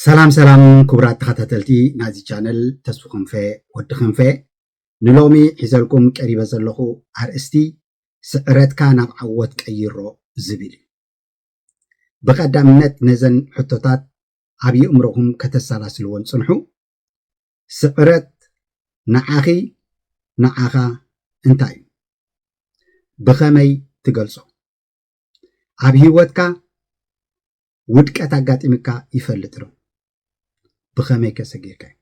ሰላም ሰላም ክቡራት ተኸታተልቲ ናዚ ቻነል ተስፉ ክንፈ ወዲ ክንፈ ንሎሚ ሒዘልኩም ቀሪበ ዘለኹ ኣርእስቲ ስዕረትካ ናብ ዓወት ቀይሮ ዝብል እዩ ብቐዳምነት ነዘን ሕቶታት ኣብ የእምሮኹም ከተሰላስልዎን ፅንሑ ስዕረት ንዓኺ ንዓኻ እንታይ እዩ? ብኸመይ ትገልጾ? ኣብ ህይወትካ ውድቀት ኣጋጢምካ ይፈልጥ ዶ? ብኸመይ ከ ሰጊርካዮ?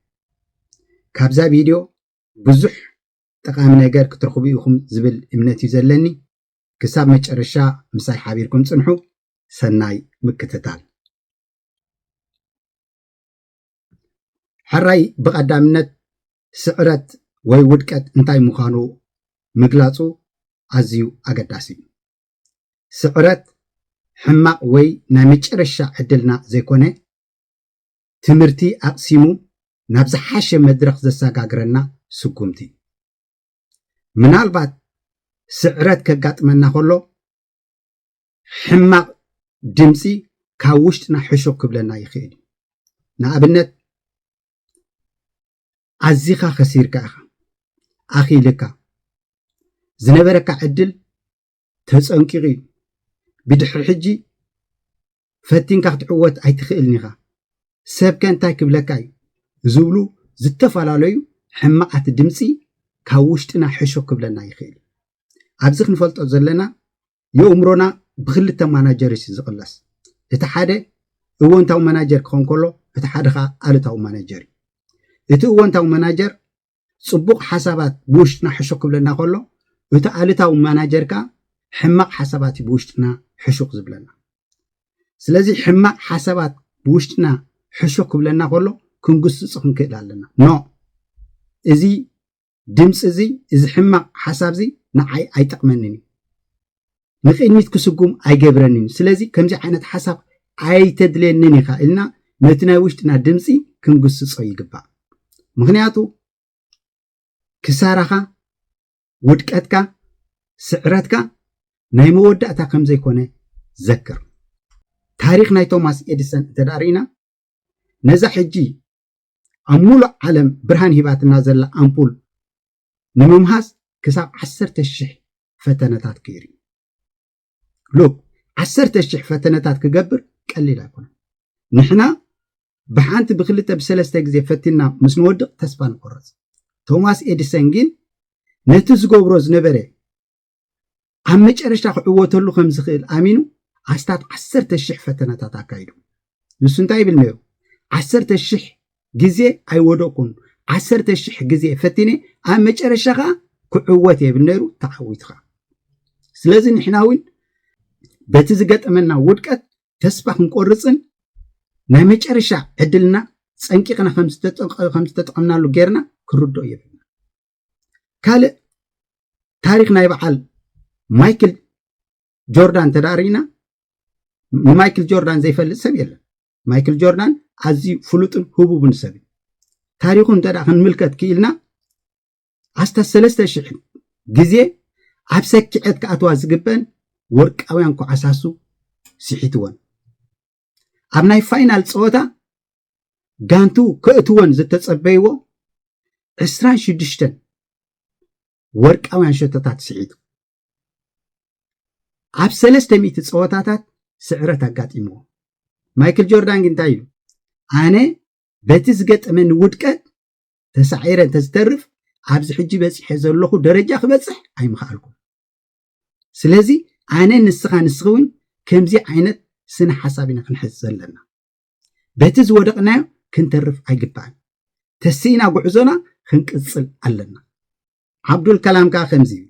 ካብዛ ቪድዮ ብዙሕ ጠቓሚ ነገር ክትረኽቡ ኢኹም ዝብል እምነት እዩ ዘለኒ። ክሳብ መጨረሻ ምሳይ ሓቢርኩም ጽንሑ። ሰናይ ምክትታል። ሕራይ ብቐዳምነት ስዕረት ወይ ውድቀት እንታይ ምዃኑ ምግላጹ ኣዝዩ ኣገዳሲ እዩ። ስዕረት ሕማቕ ወይ ናይ መጨረሻ ዕድልና ዘይኮነ ትምህርቲ ኣቕሲሙ ናብ ዝሓሸ መድረኽ ዘሰጋግረና ስጉምቲ እዩ። ምናልባት ስዕረት ከጋጥመና ከሎ ሕማቕ ድምፂ ካብ ውሽጥና ሕሹኽ ክብለና ይኽእል እዩ ንኣብነት ኣዚኻ ከሲርካ ኢኻ ኣኺልካ ዝነበረካ ዕድል ተፀንቂቑ እዩ ብድሕሪ ሕጂ ፈቲንካ ክትዕወት ኣይትኽእልን ኢኻ ሰብከ እንታይ ክብለካ እዩ ዝብሉ ዝተፈላለዩ ሕማቓት ድምፂ ካብ ውሽጥና ሕሹ ክብለና ይኽእል ኣብዚ ክንፈልጦ ዘለና የኡምሮና ብክልተ ማናጀርስ እዩ ዝቕለስ እቲ ሓደ እወንታዊ መናጀር ክኸውን ከሎ እቲ ሓደ ከዓ ኣሉታዊ ማናጀር እዩ እቲ እወንታዊ መናጀር ፅቡቕ ሓሳባት ብውሽጥና ሕሹክ ክብለና ከሎ እቲ ኣሉታዊ ማናጀር ከዓ ሕማቕ ሓሳባት እዩ ብውሽጥና ሕሹክ ዝብለና ስለዚ ሕማቕ ሓሳባት ብውሽጥና ሕሹክ ክብለና ከሎ ክንግስፁ ክንክእል ኣለና ኖ እዚ ድምፂ እዚ እዚ ሕማቕ ሓሳብ እዚ ንዓይ ኣይጠቕመንን እዩ ንቅድሚት ክስጉም ኣይገብረንን እዩ ስለዚ ከምዚ ዓይነት ሓሳብ ኣይተድልየንን ኢኻ ኢልና ነቲ ናይ ውሽጥና ድምፂ ክንግስፆ ይግባእ ምክንያቱ ክሳራኻ ውድቀትካ ስዕረትካ ናይ መወዳእታ ከም ዘይኮነ ዘክር ታሪክ ናይ ቶማስ ኤዲሰን እንተ ርኢና ነዛ ሕጂ ኣብ ሙሉእ ዓለም ብርሃን ሂባትና ዘላ ኣምፑል ንምምሃዝ ክሳብ ዓሰርተ ሽሕ ፈተነታት ገይሩ እዩ ሉክ ዓሰርተ ሽሕ ፈተነታት ክገብር ቀሊል ኣይኮነን ንሕና ብሓንቲ ብክልተ ብሰለስተ ግዜ ፈቲና ምስ ንወድቕ ተስፋ ንቆረፅ ቶማስ ኤዲሰን ግን ነቲ ዝገብሮ ዝነበረ ኣብ መጨረሻ ክዕወተሉ ከም ዝኽእል ኣሚኑ ኣስታት ዓሰርተ ሽሕ ፈተነታት ኣካይዱ ንሱ እንታይ ይብል ነይሩ ዓሰርተ ሽሕ ግዜ ኣይወደቕኩን ዓሰርተ ሽሕ ግዜ ፈቲነ ኣብ መጨረሻ ከዓ ክዕወት እየ ይብል ነይሩ ተዓዊቱ ከዓ ስለዚ ንሕና እውን በቲ ዝገጠመና ውድቀት ተስፋ ክንቆርፅን ናይ መጨረሻ ዕድልና ፀንቂቕና ከም ዝተጠቐምናሉ ጌርና ክንርድኦ የብልና ካልእ ታሪክ ናይ በዓል ማይክል ጆርዳን ተዳሪና ንማይክል ጆርዳን ዘይፈልጥ ሰብ የለን ማይክል ጆርዳን ኣዝዩ ፍሉጥን ህቡብን ሰብ እዩ ታሪኹ እንተ ክንምልከት ክኢልና ኣስታት ሰለስተ ሽሕ ግዜ ኣብ ሰኪዐት ክኣትዋ ዝግበን ወርቃውያን ኩዓሳሱ ስሒትወን ኣብ ናይ ፋይናል ፀወታ ጋንቱ ከእትወን ዝተፀበይዎ 26 ወርቃውያን ሸቶታት ስዒቱ ኣብ ሰለስተ ሚእቲ ፀወታታት ስዕረት ኣጋጢምዎ ማይክል ጆርዳን ግን እንታይ ኢሉ ኣነ በቲ ዝገጠመኒ ውድቀት ተሳዒረ እንተዝተርፍ ኣብዚ ሕጂ በፂሐ ዘለኹ ደረጃ ክበፅሕ ኣይምኽኣልኩም ስለዚ ኣነ ንስኻ ንስኺ እውን ከምዚ ዓይነት ስነ ሓሳብ ኢና ክንሕዝ ዘለና በቲ ዝወደቕናዮ ክንተርፍ ኣይግባእን ተሲእና ጉዕዞና ክንቅፅል ኣለና ዓብዱል ከላም ከዓ ከምዚ እዩ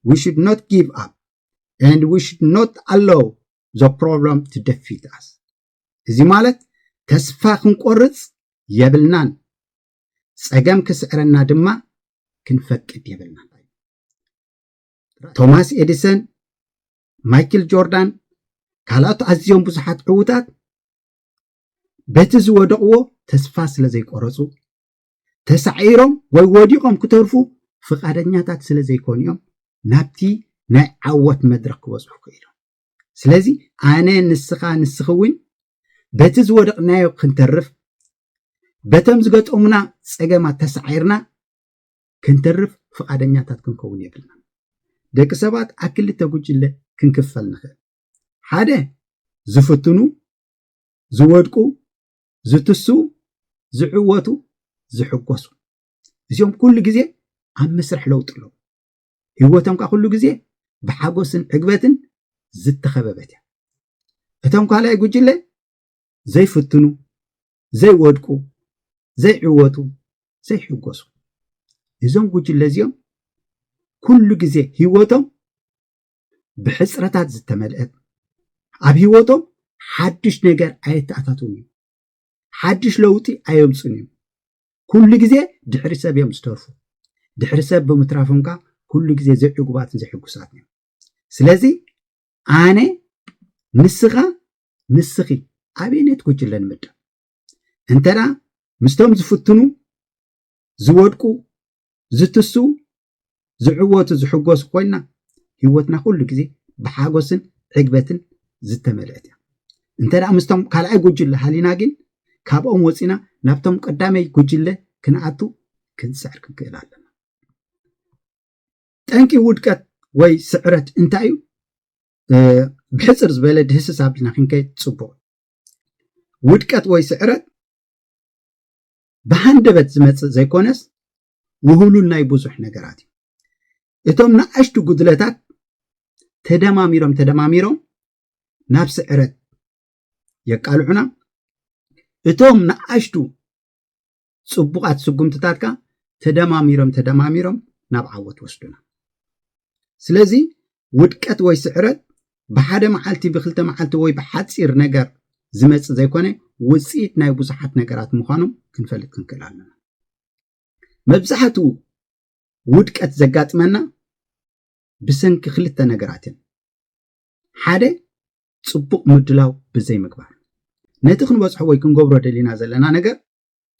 we should not give up and we should not allow the problem to defeat us እዚ ማለት ተስፋ ክንቆርፅ የብልናን ፀገም ክስዕረና ድማ ክንፈቅድ የብልናን ቶማስ ኤዲሰን ማይክል ጆርዳን ካልኦት ኣዝዮም ብዙሓት ዕዉታት በቲ ዝወደቕዎ ተስፋ ስለ ዘይቆረፁ ተሳዒሮም ወይ ወዲቖም ክተርፉ ፍቓደኛታት ስለ ዘይኮኑ እዮም ናብቲ ናይ ዓወት መድረኽ ክበፅሑ ክኢሎም ስለዚ ኣነ ንስኻ ንስኺ እውን በቲ ዝወደቕናዮ ክንተርፍ በቶም ዝገጠሙና ፀገማት ተሳዒርና ክንተርፍ ፍቓደኛታት ክንከውን የብልናን። ደቂ ሰባት ኣብ ክልተ ጉጅለ ክንክፈል ንኽእል። ሓደ ዝፍትኑ፣ ዝወድቁ፣ ዝትስኡ፣ ዝዕወቱ፣ ዝሕጎሱ። እዚኦም ኩሉ ግዜ ኣብ መስርሕ ለውጢ ኣለዉ። ህይወቶም ከዓ ኩሉ ግዜ ብሓጎስን ዕግበትን ዝተኸበበት እያ። እቶም ካልኣይ ጉጅለ ዘይፍትኑ፣ ዘይወድቁ፣ ዘይዕወቱ፣ ዘይሕጎሱ። እዞም ጉጅለ እዚኦም ኩሉ ግዜ ህይወቶም ብሕፅረታት ዝተመልአት ኣብ ህይወቶም ሓዱሽ ነገር ኣየተኣታትውን እዮም። ሓዱሽ ለውጢ ኣየምፁን እዮም። ኩሉ ግዜ ድሕሪ ሰብ እዮም ዝተርፉ ድሕሪ ሰብ ብምትራፎም ከዓ ኩሉ ግዜ ዘይዕጉባትን ዘይሕጉሳትን እዮም ስለዚ ኣነ ንስኻ ንስኺ ኣበየነት ጉጅለ ንምደብ? እንተደኣ ምስቶም ዝፍትኑ፣ ዝወድቁ፣ ዝትስኡ፣ ዝዕወቱ፣ ዝሕጎሱ ኮይንና ህይወትና ኩሉ ግዜ ብሓጎስን ዕግበትን ዝተመልአት እያ። እንተደኣ ምስቶም ካልኣይ ጉጅለ ሃሊና ግን ካብኦም ወፂና ናብቶም ቀዳመይ ጉጅለ ክንኣቱ ክንፅዕር ክንክእል ኣለና። ጠንቂ ውድቀት ወይ ስዕረት እንታይ እዩ? ብሕፅር ዝበለ ድህስስ ኣቢልና ክንከይድ ፅቡቅ ውድቀት ወይ ስዕረት ብሃንደበት ዝመፅእ ዘይኮነስ ውህሉል ናይ ብዙሕ ነገራት እዩ እቶም ንኣሽቱ ጉድለታት ተደማሚሮም ተደማሚሮም ናብ ስዕረት የቃልዑና እቶም ንኣሽቱ ፅቡቓት ስጉምትታትካ ተደማሚሮም ተደማሚሮም ናብ ዓወት ወስዱና ስለዚ ውድቀት ወይ ስዕረት ብሓደ መዓልቲ ብክልተ መዓልቲ ወይ ብሓፂር ነገር ዝመፅ ዘይኮነ ውፅኢት ናይ ብዙሓት ነገራት ምዃኖም ክንፈልጥ ክንክእል ኣለና መብዛሕትኡ ውድቀት ዘጋጥመና ብሰንኪ ክልተ ነገራት እዮም ሓደ ጽቡቕ ምድላው ብዘይምግባር ነቲ ክንበጽሖ ወይ ክንገብሮ ደሊና ዘለና ነገር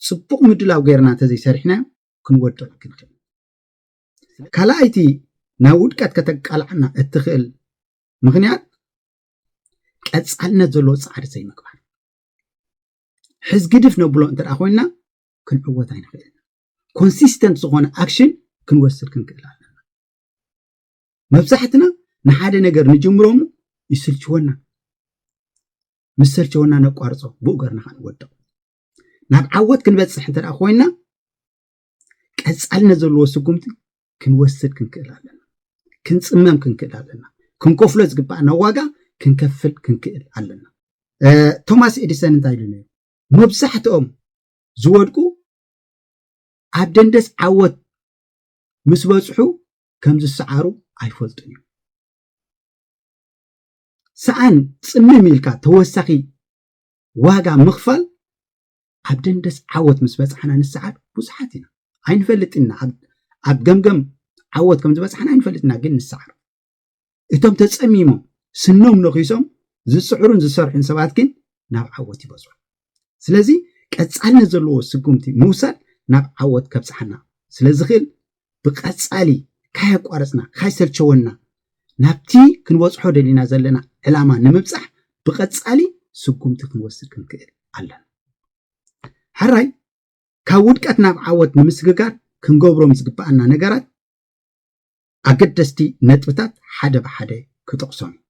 ጽቡቕ ምድላው ገይርና እንተዘይሰሪሕናዮ ክንወድቕ ግድን ካልኣይቲ ናብ ውድቀት ከተቃልዓና እትኽእል ምክንያት ቀጻልነት ዘለዎ ጻዕሪ ዘይምግባር ሕዝ ግድፍ ነብሎ እንተ ኮይና ክንዕወት ኣይንኽእል ኮንሲስተንት ዝኾነ ኣክሽን ክንወስድ ክንክእል ኣለና መብዛሕትና ንሓደ ነገር ንጅምሮ እሞ ይስልችወና ምስ ሰልቸወና ነቋርፆ ብኡ ገርና ከዓ ንወድቕ ናብ ዓወት ክንበፅሕ እንተ ኮይንና ቀፃልነት ዘለዎ ስጉምቲ ክንወስድ ክንክእል ኣለና ክንፅመም ክንክእል ኣለና ክንከፍሎ ዝግባእና ዋጋ ክንከፍል ክንክእል ኣለና ቶማስ ኤዲሰን እንታይ ኢሉ ነይሩ መብዛሕትኦም ዝወድቁ ኣብ ደንደስ ዓወት ምስ በፅሑ ከም ዝሰዓሩ ኣይፈልጡን እዮም። ሰኣን ጽምም ኢልካ ተወሳኺ ዋጋ ምኽፋል ኣብ ደንደስ ዓወት ምስ በጻሕና ንሰዓር ብዙሓት ኢና ኣይንፈልጥ ኢና ኣብ ገምገም ዓወት ከም ዝበጻሕና ኣይንፈልጥ ኢና ግን ንሰዓር እቶም ተጸሚሞም ስኖም ነኺሶም ዝጽዕሩን ዝሰርሑን ሰባት ግን ናብ ዓወት ይበጽሑ ስለዚ ቀጻልነት ዘለዎ ስጉምቲ ምውሳድ ናብ ዓወት ከብጽሓና ስለ ዝኽእል ብቀጻሊ ካየቋረጽና ካይሰልቸወና ናብቲ ክንበጽሖ ደሊና ዘለና ዕላማ ንምብጻሕ ብቀጻሊ ስጉምቲ ክንወስድ ክንክእል ኣለና ሕራይ ካብ ውድቀት ናብ ዓወት ንምስግጋር ክንገብሮም ዝግብኣና ነገራት ኣገደስቲ ነጥብታት ሓደ ብሓደ ክጠቕሶም እዩ።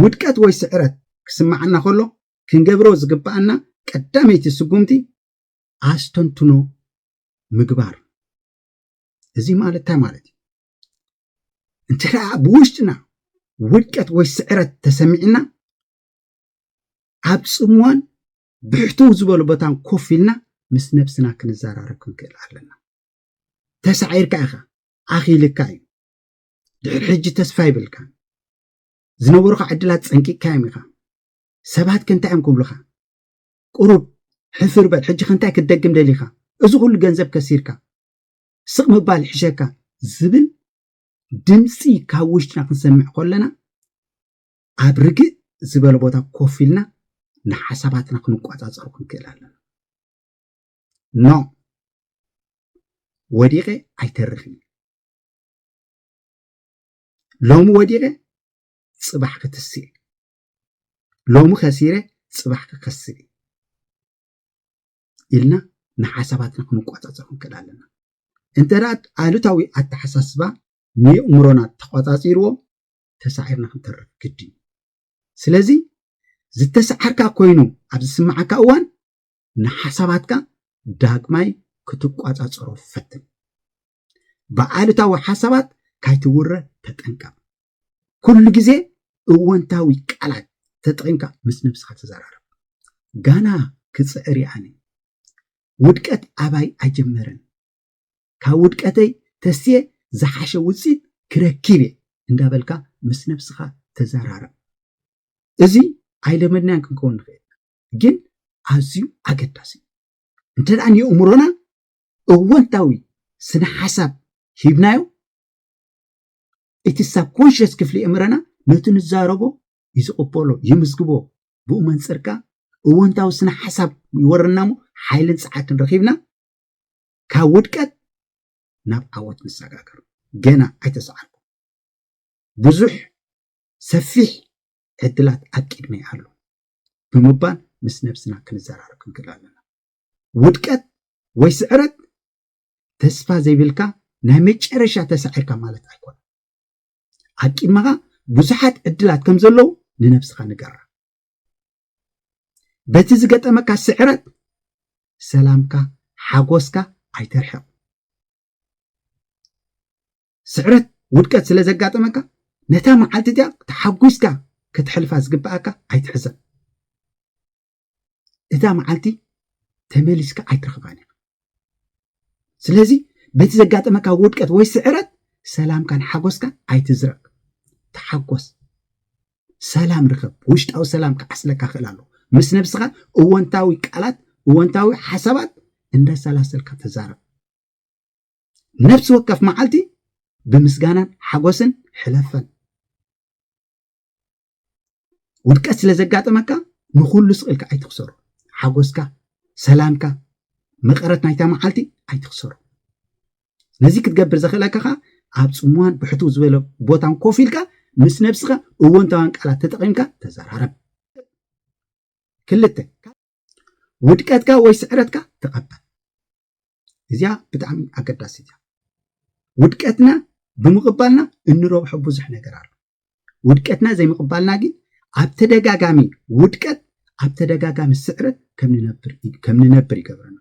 ውድቀት ወይ ስዕረት ክስመዓና ከሎ ክንገብሮ ዝግበኣና ቀዳመይቲ ስጉምቲ ኣስተንትኖ ምግባር እዩ። እዚ ማለት እንታይ ማለት እዩ? እንተ ደኣ ብውሽጥና ውድቀት ወይ ስዕረት ተሰሚዕና ኣብ ጽምዋን ብሕትው ዝበሉ ቦታን ኮፍ ኢልና ምስ ነብስና ክንዘራረብ ክንክእል ኣለና። ተሳዒርካ ኢኻ ኣኺልካ እዩ ድሕሪ ሕጂ ተስፋ ይብልካ ዝነበሩኻ ዕድላት ጸንቂቅካዮም ኢኻ ሰባት ከንታይ እዮም ክብሉኻ ቁሩብ ሕፍር በል ሕጂ ከንታይ ክትደግም ደሊኻ እዚ ኩሉ ገንዘብ ከሲርካ ስቕ ምባል ይሕሸካ ዝብል ድምፂ ካብ ውሽጥና ክንሰምዕ ከለና ኣብ ርግእ ዝበለ ቦታ ኮፍ ኢልና ንሓሳባትና ክንቆፃፀሩ ክንክእል ኣለና ኖእ ወዲቀ ኣይተርፍን እዩ ሎሚ ወዲቀ ፅባሕ ክትስእ እዩ ሎሚ ከሲረ ፅባሕ ክከስብ እዩ ኢልና ንሓሳባትና ክንቆፃፀር ክንክእል ኣለና እንተ ኣሉታዊ ኣተሓሳስባ ንየእምሮና ተቆፃፂርዎ ተሳዒርና ክንተርፍ ግድን እዩ ስለዚ ዝተሰዓርካ ኮይኑ ኣብ ዝስምዓካ እዋን ንሓሳባትካ ዳግማይ ክትቋጻጸሮ ፈትን። ብኣሉታዊ ሓሳባት ካይትውረ ተጠንቀቕ። ኩሉ ግዜ እወንታዊ ቃላት ተጠቒምካ ምስ ነብስኻ ተዘራረብ። ጋና ክጽዕር እየ ኣነ። ውድቀት ኣባይ ኣይጀመረን። ካብ ውድቀተይ ተስየ ዝሓሸ ውፅኢት ክረኪብ እየ እንዳበልካ ምስ ነብስኻ ተዘራረብ። እዚ ኣይለመድናዮን ክንከውን ንኽእል ኢና። ግን ኣዝዩ ኣገዳሲ እዩ እንተ ንየእምሮና እወንታዊ ስነ ሓሳብ ሂብናዮ እቲ ሳብ ኮንሽስ ክፍሊ የእምረና ነቲ ንዛረቦ እዩ ዝቕበሎ ይምዝግቦ ብኡ መንፅርካ እወንታዊ ስነ ሓሳብ ይወረና እሞ ሓይልን ፀዓትን ረኺብና ካብ ውድቀት ናብ ዓወት ንሰጋገር ገና ኣይተሰዓርኩ ብዙሕ ሰፊሕ ዕድላት ኣብ ቅድመይ ኣሎ ብምባል ምስ ነብስና ክንዘራረብ ክንክእል ኣለና። ውድቀት ወይ ስዕረት ተስፋ ዘይብልካ ናይ መጨረሻ ተሳዒርካ ማለት ኣይኮነን። ኣብ ቅድመኻ ብዙሓት ዕድላት ከም ዘለዉ ንነብስኻ ንገራ። በቲ ዝገጠመካ ስዕረት ሰላምካ ሓጎስካ ኣይተርሕቕ። ስዕረት ውድቀት ስለ ዘጋጠመካ ነታ መዓልቲ እዚኣ ተሓጒስካ ክትሕልፋ ዝግብኣካ ኣይትሕሰብ እዛ መዓልቲ ተመሊስካ ኣይትረኽባን ኢኻ ስለዚ በቲ ዘጋጠመካ ውድቀት ወይ ስዕረት ሰላምካን ሓጎስካን ኣይትዝረቅ ተሓጎስ ሰላም ርኸብ ውሽጣዊ ሰላም ክዓስለካ ክእል ኣለዎ ምስ ነብስኻ እወንታዊ ቃላት እወንታዊ ሓሳባት እንዳሰላሰልካ ተዛረብ ነፍሲ ወከፍ መዓልቲ ብምስጋናን ሓጎስን ሕለፈን። ውድቀት ስለ ዘጋጠመካ ንኹሉ ስቕኢልካ ኣይትኽሰሩ። ሓጎስካ፣ ሰላምካ፣ መቐረት ናይታ መዓልቲ ኣይትኽሰሩ። ነዚ ክትገብር ዘኽእለካ ከዓ ኣብ ፅሙዋን ብሕትው ዝበለ ቦታን ኮፍ ኢልካ ምስ ነብስኻ እወንታውያን ቃላት ተጠቒምካ ተዘራረብ። ክልተ ውድቀትካ ወይ ስዕረትካ ተቐበል። እዚኣ ብጣዕሚ ኣገዳሲት እያ ውድቀትና ብምቕባልና እንረብሖ ብዙሕ ነገር ኣሎ ውድቀትና ዘይምቕባልና ግን ኣብ ተደጋጋሚ ውድቀት ኣብ ተደጋጋሚ ስዕረት ከም ንነብር ይገብረና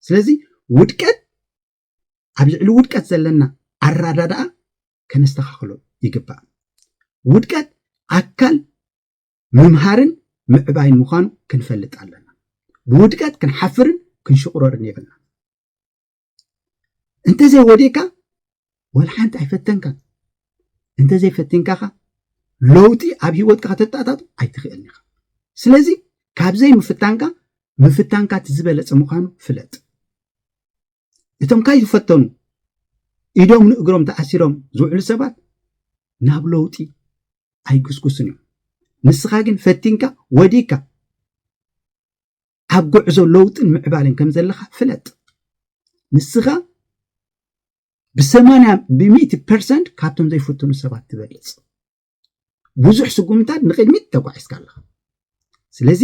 ስለዚ ውድቀት ኣብ ልዕሊ ውድቀት ዘለና ኣራዳድኣ ከነስተኻኽሎ ይግባእ ውድቀት ኣካል ምምሃርን ምዕባይን ምዃኑ ክንፈልጥ ኣለና። ብውድቀት ክንሓፍርን ክንሽቑረርን የብልና። እንተዘይወዲእካ ወላ ሓንቲ ኣይፈተንካን እንተዘይፈቲንካ ኸ ለውጢ ኣብ ሂወትካ ከተጣጣጡ ኣይትኽእልን ኢኻ ስለዚ ካብዘይ ምፍታንካ ምፍታንካ እቲ ዝበለፀ ምዃኑ ፍለጥ እቶም ካይ ዝፈተኑ ኢዶም ንእግሮም ተኣሲሮም ዝውዕሉ ሰባት ናብ ለውጢ ኣይጉስጉስን እዮም ንስኻ ግን ፈቲንካ ወዲካ ኣብ ጉዕዞ ለውጥን ምዕባልን ከም ዘለኻ ፍለጥ ንስኻ ብሰማንያ ብሚእቲ ፐርሰንት ካብቶም ዘይፍትኑ ሰባት ትበልፅ ብዙሕ ስጉምታት ንቅድሚት ተጓዒዝካ ኣለኻ ስለዚ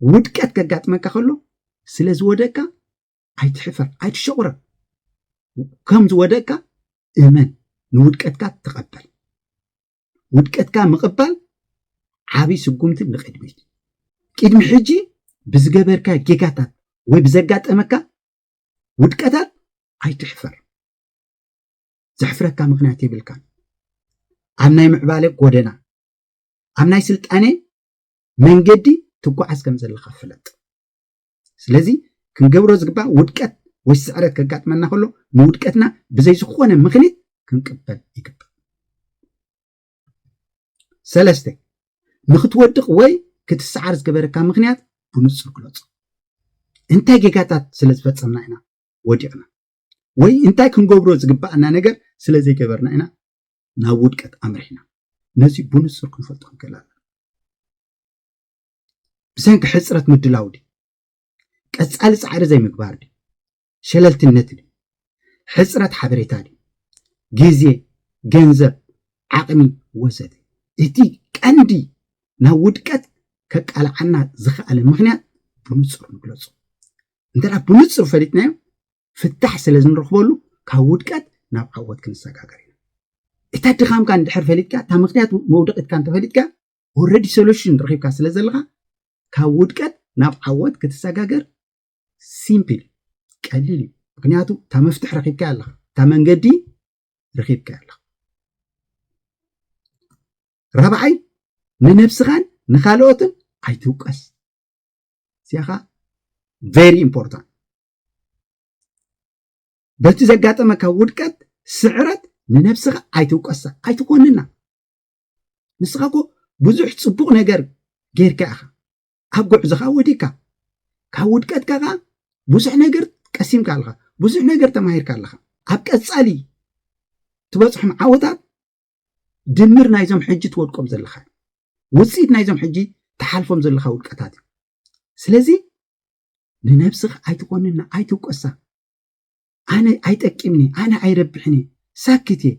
ውድቀት ከጋጥመካ ከሎ ስለ ዝወደቅካ ኣይትሕፈር ኣይትሸቑረ ከም ዝወደቅካ እመን ንውድቀትካ ተቐበል ውድቀትካ ምቕባል ዓብ ስጉምቲ ንቕድሚት ቅድሚ ሕጂ ብዝገበርካ ጌጋታት ወይ ብዘጋጠመካ ውድቀታት ኣይትሕፈር ዘሕፍረካ ምክንያት የብልካን ኣብ ናይ ምዕባለ ጎደና ኣብ ናይ ስልጣኔ መንገዲ ትጓዓዝ ከም ዘለካ ፍለጥ ስለዚ ክንገብሮ ዝግባእ ውድቀት ወይ ስዕረት ከጋጥመና ከሎ ንውድቀትና ብዘይ ዝኾነ ምክንያት ክንቅበል ይግባእ። ሰለስተ ንክትወድቕ ወይ ክትሰዓር ዝገበረካ ምክንያት ብንጹር ግለጹ። እንታይ ጌጋታት ስለ ዝፈጸምና ኢና ወዲቕና ወይ እንታይ ክንገብሮ ዝግባኣና ነገር ስለ ዘይገበርና ኢና ናብ ውድቀት ኣምሪሕና ነዚ ብንጹር ክንፈልጦ ንክእል ኣለና። ብሰንኪ ሕፅረት ምድላው ድዩ? ቀፃሊ ፃዕሪ ዘይምግባር ድዩ? ሸለልትነት ድዩ? ሕፅረት ሓበሬታ ድዩ? ግዜ፣ ገንዘብ፣ ዓቕሚ ወዘተ። እቲ ቀንዲ ናብ ውድቀት ከቃልዓና ዝኸኣለ ምኽንያት ብንፁር ንግለፁ። እንተ ብንፁር ፈሊጥናዮ ፍታሕ ስለ ዝንረኽበሉ ካብ ውድቀት ናብ ዓወት ክንሰጋገር ኢና። እታ ድኻምካ እንድሕር ፈሊጥካ እታ ምኽንያት መውደቂትካ እንተፈሊጥካ ኦልሬዲ ሶሉሽን ረኺብካ ስለ ዘለኻ ካብ ውድቀት ናብ ዓወት ክትሰጋገር ሲምፕል ቀሊል እዩ ምክንያቱ እታ መፍትሕ ረኺብካ ኣለኻ እታ መንገዲ ረኺብካ ኣለኻ ራብዓይ ንነብስኻን ንካልኦትን ኣይትውቀስ እዚኣኻ ቨሪ ኢምፖርታንት በቲ ዘጋጠመካ ውድቀት ስዕረት ንነብስኻ ኣይትውቀሳ ኣይትኮንና ንስኻ እኮ ብዙሕ ፅቡቕ ነገር ጌርካ ኢኻ ኣብ ጉዕዞኻ ወዲካ ካብ ውድቀትካ ከዓ ብዙሕ ነገር ቀሲምካ ኣለኻ ብዙሕ ነገር ተማሂርካ ኣለኻ ኣብ ቀፃሊ ትበፅሖም ዓወታት ድምር ናይዞም ሕጂ ትወድቆም ዘለኻ ውፅኢት ናይዞም ሕጂ ትሓልፎም ዘለኻ ውድቀታት እዩ ስለዚ ንነብስኻ ኣይትኾንና ኣይትውቀሳ ኣነ ኣይጠቅምኒ ኣነ ኣይረብሕኒ ሳክት እየ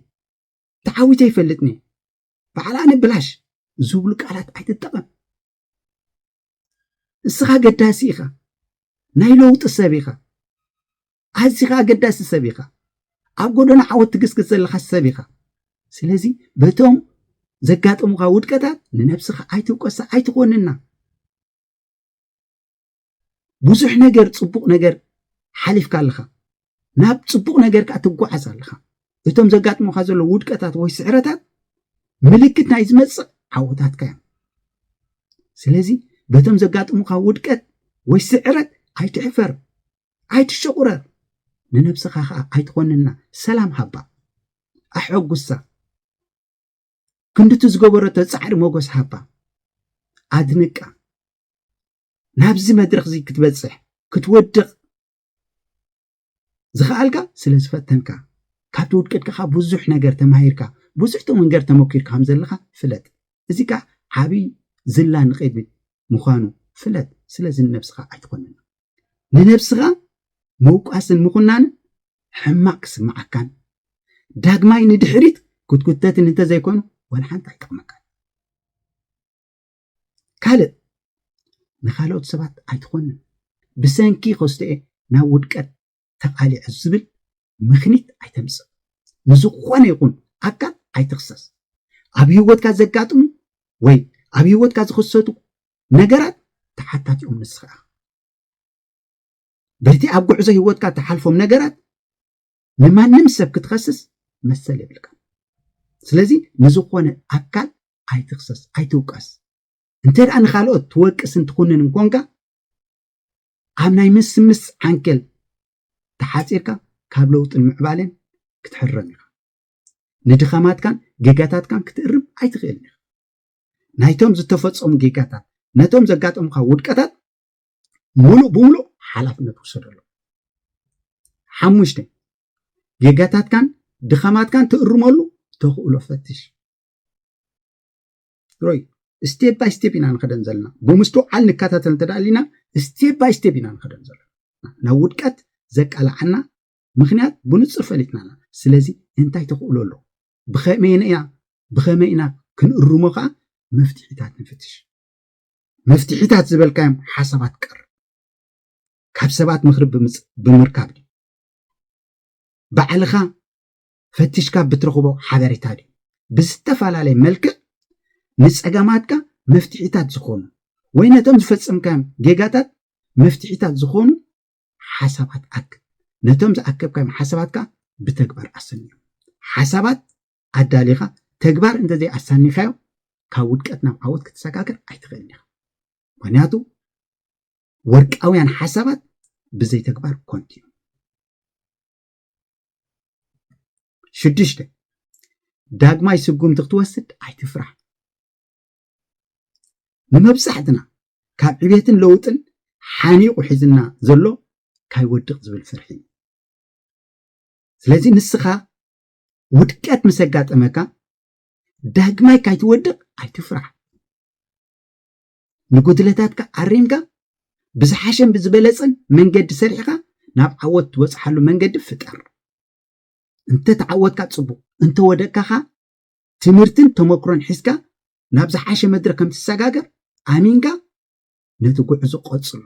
ተዓዊተ ይፈልጥኒ በዓል ኣነ ብላሽ ዝብሉ ቃላት ኣይትጠቐም እስኻ ገዳሲ ኢኻ ናይ ለውጢ ሰብ ኢኻ ኣዚኻ ኣገዳሲ ሰብ ኢኻ ኣብ ጎደና ዓወት ትግስግስ ዘለኻ ሰብ ኢኻ ስለዚ በቶም ዘጋጥሙኻ ውድቀታት ንነብስኻ ኣይትውቀሳ ኣይትኾንና ብዙሕ ነገር ፅቡቕ ነገር ሓሊፍካ ኣለኻ ናብ ፅቡቕ ነገር ከዓ ትጓዓዝ ኣለኻ እቶም ዘጋጥሞካ ዘሎ ውድቀታት ወይ ስዕረታት ምልክት ናይ ዝመፅእ ዓወታትካ እዮም ስለዚ በቶም ዘጋጥሙካ ውድቀት ወይ ስዕረት ኣይትሕፈር ኣይትሸቑረር ንነብስኻ ከዓ ኣይትኾንና ሰላም ሃባ ኣሐጉሳ ክንድቲ ዝገበረቶ ፃዕሪ ሞገስ ሃባ ኣድንቃ ናብዚ መድረክ እዚ ክትበፅሕ ክትወድቕ ዝኸኣልካ ስለ ዝፈተንካ ካብቲ ውድቀትካ ብዙሕ ነገር ተማሂርካ ብዙሕ ተመንገር ተመኪርካ ከም ዘለካ ፍለጥ እዚ ከዓ ዓብይ ዝላ ንቅድሚት ምዃኑ ፍለጥ ስለዚ ንነብስኻ ኣይትኾንን ንነብስኻ ምውቃስን ምኹናንን ሕማቅ ክስምዓካን ዳግማይ ንድሕሪት ክትጉተትን እንተዘይኮኑ ወላ ሓንቲ ኣይጠቕመካን። ካልእ ንካልኦት ሰባት ኣይትኾንን ብሰንኪ ከስቶኤ ናብ ውድቀት ተቓሊዐ ዝብል ምኽኒት ኣይተምጽእ። ንዝኾነ ይኹን ኣካል ኣይትኽሰስ። ኣብ ህይወትካ ዘጋጥሙ ወይ ኣብ ህይወትካ ዝኽሰቱ ነገራት ተሓታቲኦም ንስኻ ኢኻ። በቲ ኣብ ጉዕዞ ህይወትካ ተሓልፎም ነገራት ንማንም ሰብ ክትኸስስ መሰል የብልካ ስለዚ ንዝኾነ ኣካል ኣይትኽሰስ ኣይትውቀስ እንተ ንካልኦት ትወቅስን ትኹንን እንኮንካ ኣብ ናይ ምስምስ ዓንኬል ተሓጺርካ ካብ ለውጥን ምዕባለን ክትሕረም ኢኻ። ንድኸማትካን ጌጋታትካን ክትእርም ኣይትኽእልን ኢኻ። ናይቶም ዝተፈጸሙ ጌጋታት ነቶም ዘጋጠሙኻ ውድቀታት ሙሉእ ብሙሉእ ሓላፍነት ውሰደሎም። ሓሙሽተ ጌጋታትካን ድኸማትካን ትእርመሉ ተኽእሎ ፈትሽ። ሮይ ስቴፕ ባይ ስቴፕ ኢና ንኸደን ዘለና ብምስትውዓል ንከታተል እንተ ኣሊና ስቴፕ ባይ ስቴፕ ኢና ንኸደን ዘለና ናብ ውድቀት ዘቃላዓና ምክንያት ብንፁር ፈሊጥና ኣለና ስለዚ እንታይ ተኽእሎ ኣሎ ብኸመይ ኢና ብኸመይ ኢና ክንእርሞ ከዓ መፍትሒታት ንፍትሽ መፍትሒታት ዝበልካዮም ሓሳባት ቀርብ ካብ ሰባት ምክሪ ብምርካብ ባዕልኻ ፈቲሽካ ብትረኽቦ ሓበሬታ ድዩ ብዝተፈላለየ መልክዕ ንጸገማትካ መፍትሒታት ዝኾኑ ወይ ነቶም ዝፈጸምካዮም ጌጋታት መፍትሒታት ዝኾኑ ሓሳባት ኣክብ። ነቶም ዝኣከብካዮም ሓሳባት ከኣ ብተግባር ኣሰንዮም። ሓሳባት ኣዳሊኻ ተግባር እንተዘይ ኣሳኒኻዮ ካብ ውድቀት ናብ ዓወት ክትሰጋገር ኣይትኽእልን ኢኻ። ምክንያቱ ወርቃውያን ሓሳባት ብዘይ ተግባር ኮንቲ እዮም። ሽዱሽተ ዳግማይ ስጉምቲ ክትወስድ ኣይትፍራህ ንመብዛሕትና ካብ ዕቤትን ለውጥን ሓኒቑ ሒዝና ዘሎ ካይወድቕ ዝብል ፍርሒ እዩ ስለዚ ንስኻ ውድቀት ምስ ኣጋጠመካ ዳግማይ ካይትወድቕ ኣይትፍራሕ ንጉድለታትካ ኣሪምካ ብዝሓሸን ብዝበለጸን መንገዲ ሰሪሕኻ ናብ ዓወት ትበጽሓሉ መንገዲ ፍጠር። እንተ ተዓወትካ ጽቡቕ፣ እንተ ወደቅካ ከኣ ትምህርትን ተመክሮን ሒዝካ ናብ ዝሓሸ መድረኽ ከም ትሰጋገር ኣሚንካ ነቲ ጉዕዞ ቀጽሎ።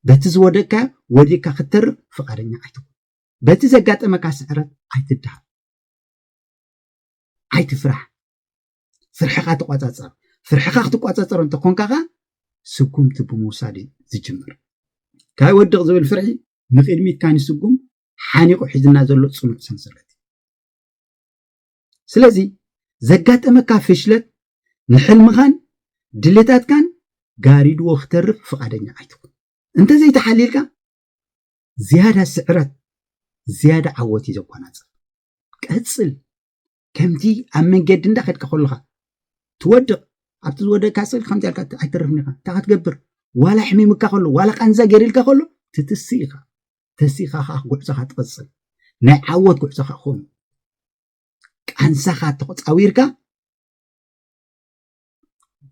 በቲ ዝወደቅካዮ ወዲቕካ ክትተርፍ ፍቓደኛ ኣይትኹን። በቲ ዘጋጠመካ ስዕረት ኣይትደሃብ። ኣይትፍራሕ። ፍርሕኻ ተቋፃፀር ፍርሕኻ ክትቋፃፀር እንተኮንካ ከ ስጉምቲ ብምውሳድ እዩ ዝጅምር ካይ ወድቕ ዝብል ፍርሒ ንቅድሚት ካን ስጉም ሓኒቑ ሒዝና ዘሎ ፅኑዕ ሰንሰለት እዩ ስለዚ ዘጋጠመካ ፍሽለት ንሕልምኻን ድሌታትካን ጋሪድዎ ክተርፍ ፍቓደኛ ኣይትኹን እንተዘይተሓሊልካ ዝያዳ ስዕረት ዝያዳ ዓወት እዩ ዘጓናፅፍ ቀፅል ከምቲ ኣብ መንገዲ እንዳኸድካ ከለኻ ትወድቕ ኣብቲ ዝወደቅካ ስል ከምዚ ኣልካ ኣይተርፍን ኢኻ እንታይ ክትገብር ዋላ ሕሚምካ ከሎ ዋላ ቃንዛ ገይርልካ ከሎ ትትሲ ኢኻ ተሲኻ ከዓ ጉዕዞኻ ትቕፅል ናይ ዓወት ጉዕዞኻ ክኸውን ቃንዛኻ ተቆፃዊርካ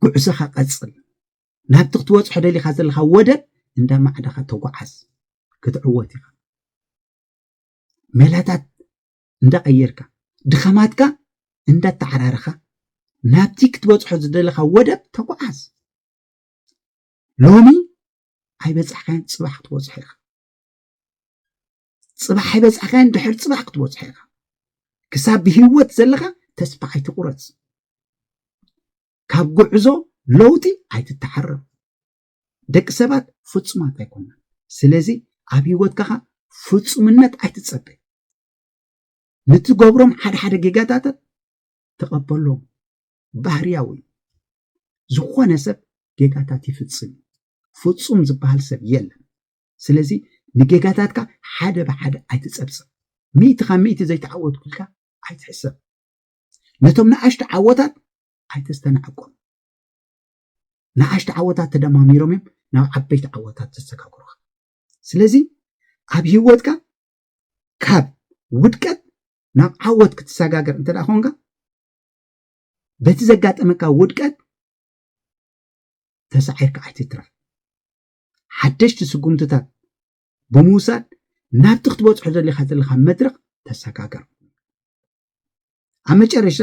ጉዕዞኻ ቀፅል ናብቲ ክትወፅሖ ደሊኻ ዘለኻ ወደብ እንዳ ማዕዳኻ ተጓዓዝ ክትዕወት ኢኻ መላታት እንዳቐየርካ ድኻማትካ እንዳተዓራረኻ ናብቲ ክትበጽሖ ዝደለኻ ወደብ ተጓዓዝ። ሎሚ ኣይበጻሕካዮን ጽባሕ ክትበጽሖ ኢኻ። ጽባሕ ኣይበጻሕካዮን ድሕር ጽባሕ ክትበጽሖ ኢኻ። ክሳብ ብህይወት ዘለኻ ተስፋ ኣይትቑረጽ። ካብ ጉዕዞ ለውጢ ኣይትተዓረብ። ደቂ ሰባት ፍጹማት ኣይኮናን። ስለዚ ኣብ ህይወትካ ኸኣ ፍጹምነት ኣይትጸበ። ንትገብሮም ሓደ ሓደ ጌጋታታት ተቐበሎም፣ ባህርያዊ እዩ። ዝኾነ ሰብ ጌጋታት ይፍጽም እዩ። ፍጹም ዝበሃል ሰብ የለን። ስለዚ ንጌጋታትካ ሓደ ብሓደ ኣይትጸብጽብ። ሚእቲ ካብ ሚእቲ ዘይተዓወትኩ ኢልካ ኣይትሕሰብ። ነቶም ንኣሽቱ ዓወታት ኣይተስተናዕቆም። ንኣሽቱ ዓወታት ተደማሚሮም እዮም ናብ ዓበይቲ ዓወታት ዘሰጋግሩኻ ስለዚ ኣብ ሂወትካ ካብ ውድቀት ናብ ዓወት ክትሰጋገር እንተ ኮንካ በቲ ዘጋጠመካ ውድቀት ተሳዒርካ ኣይትትረፍ ሓደሽቲ ስጉምትታት ብምውሳድ ናብቲ ክትበፅሖ ዘሌካ ዘለካ መድረክ ተሰጋገር ኣብ መጨረሻ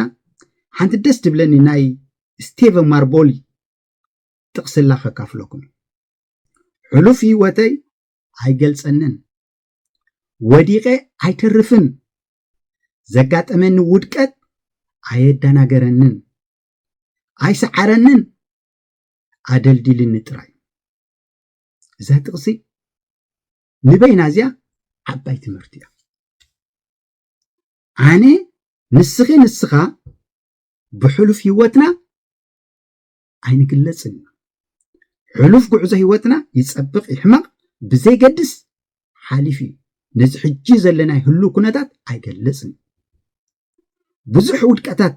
ሓንቲ ደስ ትብለኒ ናይ ስቴቨ ማርቦሊ ጥቕስላ ከካፍለኩም ሕሉፍ ህይወተይ ኣይገልጸንን ወዲቐ ኣይተርፍን ዘጋጠመኒ ውድቀት ኣየደናገረንን ኣይሰዓረንን ኣደልዲልኒ ጥራይ እዛ ጥቕሲ ንበይና እዚያ ዓባይ ትምህርቲ እያ ኣነ ንስኺ ንስኻ ብሕሉፍ ህይወትና ኣይንግለጽን ኢና ሕሉፍ ጉዕዞ ህይወትና ይጸብቕ ይሕመቕ ብዘይገድስ ሓሊፍ እዩ ነዚ ሕጂ ዘለና ህሉ ኩነታት ኣይገልጽን ብዙሕ ውድቀታት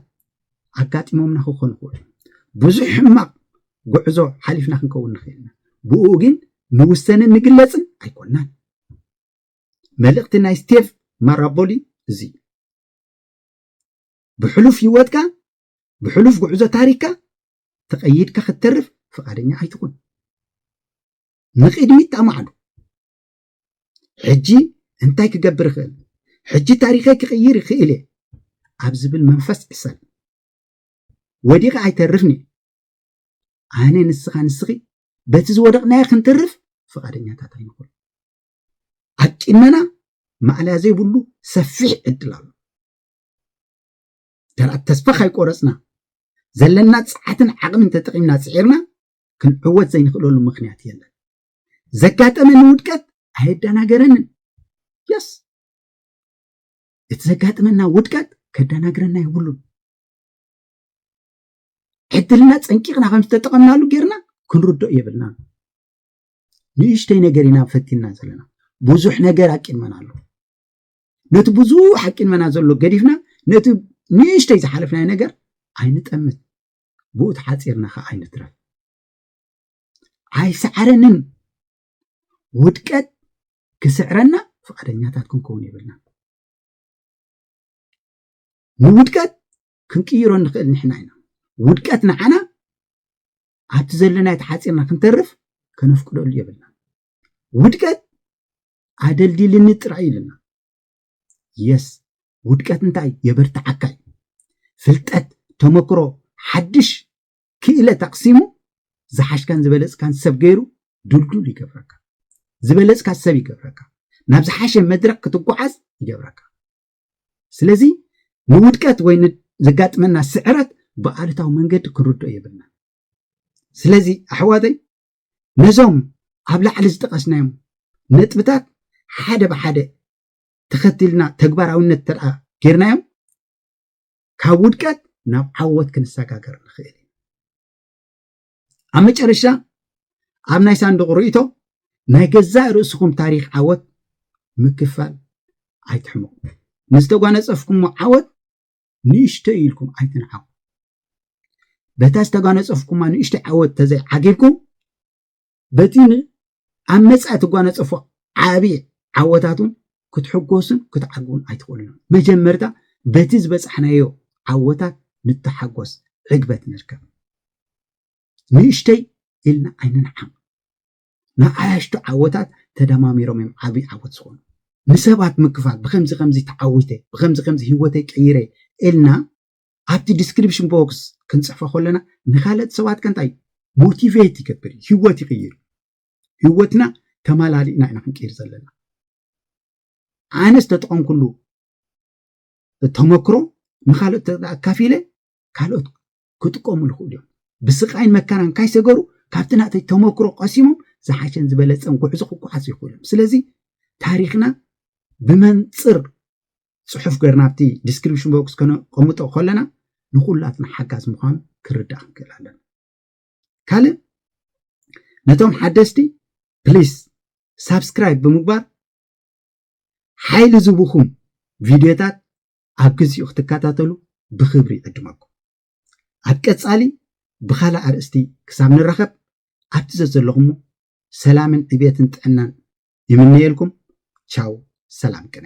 ኣጋጢሞምና ክኾኑ ክውሉ ብዙሕ ሕማቕ ጉዕዞ ሓሊፍና ክንከውን ንኽእልና ብኡ ግን ንውሰንን ንግለጽን ኣይኮናን መልእኽቲ ናይ ስቴቭ ማራቦሊ እዚ እዩ። ብሕሉፍ ህይወትካ ብሕሉፍ ጉዕዞ ታሪክካ ተቐይድካ ክትተርፍ ፍቓደኛ ኣይትኹን። ንቕድሚት ተማዕዱ። ሕጂ እንታይ ክገብር ይኽእል? ሕጂ ታሪኸይ ክቕይር ይኽእል እየ ኣብ ዝብል መንፈስ ዕሰል ወዲቐ ኣይተርፍን እየ ኣነ ንስኻ ንስኺ በቲ ዝወደቕናዮ ክንተርፍ ፍቓደኛታት ኣይንኹን ኣቂመና ማእለያ ዘይብሉ ሰፊሕ ዕድል ኣሎ ደርኣት ተስፋ ካይቆረፅና ዘለና ፀዓትን ዓቕምን ተጠቒምና ፅዒርና ክንዕወት ዘይንኽእለሉ ምኽንያት የለን ዘጋጠመኒ ውድቀት ኣየደናገረንን የስ እቲ ዘጋጥመና ውድቀት ከደናግረና የብሉን ዕድልና ፀንቂቕና ከም ዝተጠቐምናሉ ጌርና ክንርድኦ የብልና ንእሽተይ ነገር ኢና ፈቲና ዘለና ብዙሕ ነገር ኣቂድመና ኣሎ ነቲ ብዙሕ ኣቂድመና ዘሎ ገዲፍና ነቲ ንእሽተይ ዝሓለፍናዮ ነገር ኣይንጠምት ብኡ ተሓፂርና ከዓ ኣይንትረፍ ኣይሰዓረንን ውድቀት ክስዕረና ፍቃደኛታት ክንከውን የብልና ንውድቀት ክንቅይሮ ንኽእል ንሕና ኢና ውድቀት ንዓና ኣብቲ ዘለናዮ ተሓጺርና ክንተርፍ ከነፍቅደሉ የብልናን። ውድቀት ኣደልዲልኒ ጥራይ እዩ ኢሉና። የስ ውድቀት እንታይ የበርትዓካ እዩ። ፍልጠት፣ ተመክሮ፣ ሓድሽ ክእለት ኣቕሲሙ ዝሓሽካን ዝበለጽካን ሰብ ገይሩ ድልዱል ይገብረካ። ዝበለጽካ ሰብ ይገብረካ። ናብ ዝሓሸ መድረኽ ክትጓዓዝ ይገብረካ። ስለዚ ንውድቀት ወይ ዘጋጥመና ስዕረት ብኣሉታዊ መንገዲ ክንርድኦ የብልናን ስለዚ ኣሕዋተይ ነዞም ኣብ ላዕሊ ዝጠቐስናዮም ነጥብታት ሓደ ብሓደ ተኸቲልና ተግባራዊነት ተኣ ጌርናዮም ካብ ውድቀት ናብ ዓወት ክንሰጋገር ንኽእል ኣብ መጨረሻ ኣብ ናይ ሳንዱቕ ርእይቶ ናይ ገዛእ ርእስኹም ታሪኽ ዓወት ምክፋል ኣይትሕመቑ። ንዝተጓነጸፍኩሞ ዓወት ንእሽቶ ኢልኩም ኣይትንዓቑ። በታ ዝተጓነጸፍኩማ ንእሽቶ ዓወት ተዘይዓጊብኩም በቲ ኣብ መጻኢ እትጓነጸፎ ዓቢ ዓወታትውን ክትሕጎሱን ክትዓግቡን ኣይትኽእሉን ኢኹም። መጀመርታ በቲ ዝበጻሕናዮ ዓወታት ንተሓጎስ፣ ዕግበት ንርከብ። ንእሽተይ ኢልና ኣይንንዓቕ። ንኣያሽቱ ዓወታት ተደማሚሮም እዮም ዓቢ ዓወት ዝኾኑ። ንሰባት ምክፋል፣ ብከምዚ ከምዚ ተዓዊተ፣ ብከምዚ ከምዚ ህይወተይ ቀይረ ኢልና ኣብቲ ዲስክሪፕሽን ቦክስ ክንጽሕፎ ከለና ንካልኦት ሰባት ከንታይ ሞቲቬት ይገብር እዩ ህይወት ይቕይር ህይወትና ተመላሊእና ኢና ክንቅይር ዘለና ኣነ ዝተጠቐምኩሉ ተመክሮ ንካልኦት ኣካፊለ ካልኦት ክጥቀሙ ይኽእሉ እዮም ብስቃይን መከራን ካይሰገሩ ካብቲ ናተይ ተመክሮ ቀሲሞም ዝሓሸን ዝበለፀን ጉዕዞ ክጓዓዙ ይኽእሉ እዮም ስለዚ ታሪክና ብመንፅር ፅሑፍ ገርና ኣብቲ ዲስክሪፕሽን ቦክስ ከነቐምጦ ከለና ንኩላትና ሓጋዝ ምዃኑ ክርዳእ ክንክእል ኣለና ካልእ ነቶም ሓደስቲ ፕሊስ ሳብስክራይብ ብምግባር ሓይሊ ዝቡኹም ቪድዮታት ኣብ ግዚኡ ክትከታተሉ ብክብሪ ይዕድመኩም ኣብ ቀፃሊ ብካልእ ኣርእስቲ ክሳብ ንራኸብ ኣብቲ ዘዘለኹሞ ሰላምን ዕብየትን ጥዕናን ይምነየልኩም ቻው ሰላም ቅነ